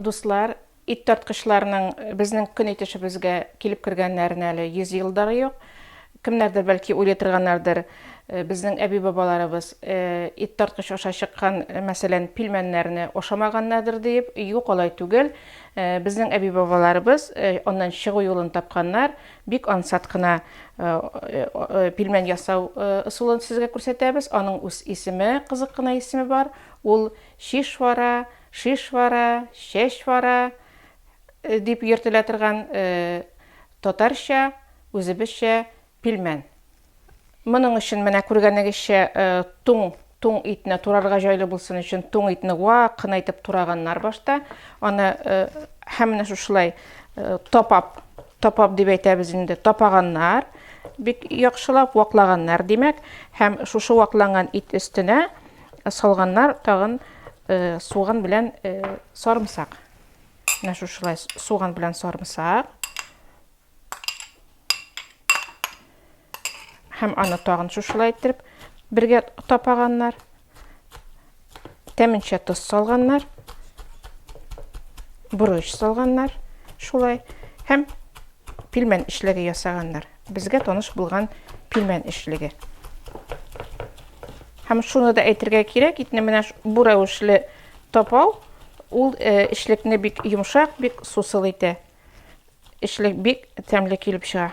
Дуслар, ит тарткычларның безнең көн итешебезгә килеп кергәннәренә әле 100 ел да юк. Кемнәрдер бәлки уйлый торганнардыр, э, безнең әби-бабаларыбыз э, ит тарткыч аша чыккан, э, мәсәлән, пилмәннәрне ашамаганнардыр диеп. Юк, алай түгел. Э, безнең әби-бабаларыбыз э, аннан чыгу юлын тапканнар. Бик ансат кына э, э, э, пилмән ясау э, ысулын сезгә күрсәтәбез. Аның үз исеме, кызык кына исеме бар. Ул шишвара, Шишвара, чәчвара дип йөртелә торган татарча, үзебезчә пилмән. Моның өчен менә күргәнегезчә туң туң итне турарга җайлы булсын өчен туң итне вак кына итеп тураганнар башта. Аны һәм менә шушылай тапап, тапап дип әйтәбез инде, тапаганнар. Бик яхшылап ваклаганнар, димәк, һәм шушы вакланган ит өстенә салганнар тагын Суган белән сарымсак. Менә шушылай суган белән сарымсак. Һәм аны тагын шушылай иттереп бергә тапаганнар. Тәменчә тоз салганнар. Борыч салганнар. Шулай. Һәм пилмән эшләге ясаганнар. Безгә таныш булган пилмән эшлеге. Һәм шуны да әйтергә кирәк, итне менә бу рәвешле тапау, ул э, эшлекне бик йомшак, бик сусыл итә. Эшлек бик тәмле килеп чыга.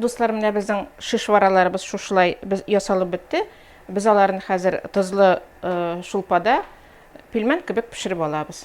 Дуслар, менә безнең шишвараларыбыз шушылай без ясалып бетте. Без аларны хәзер тозлы э, шулпада пилмән кебек пешереп алабыз.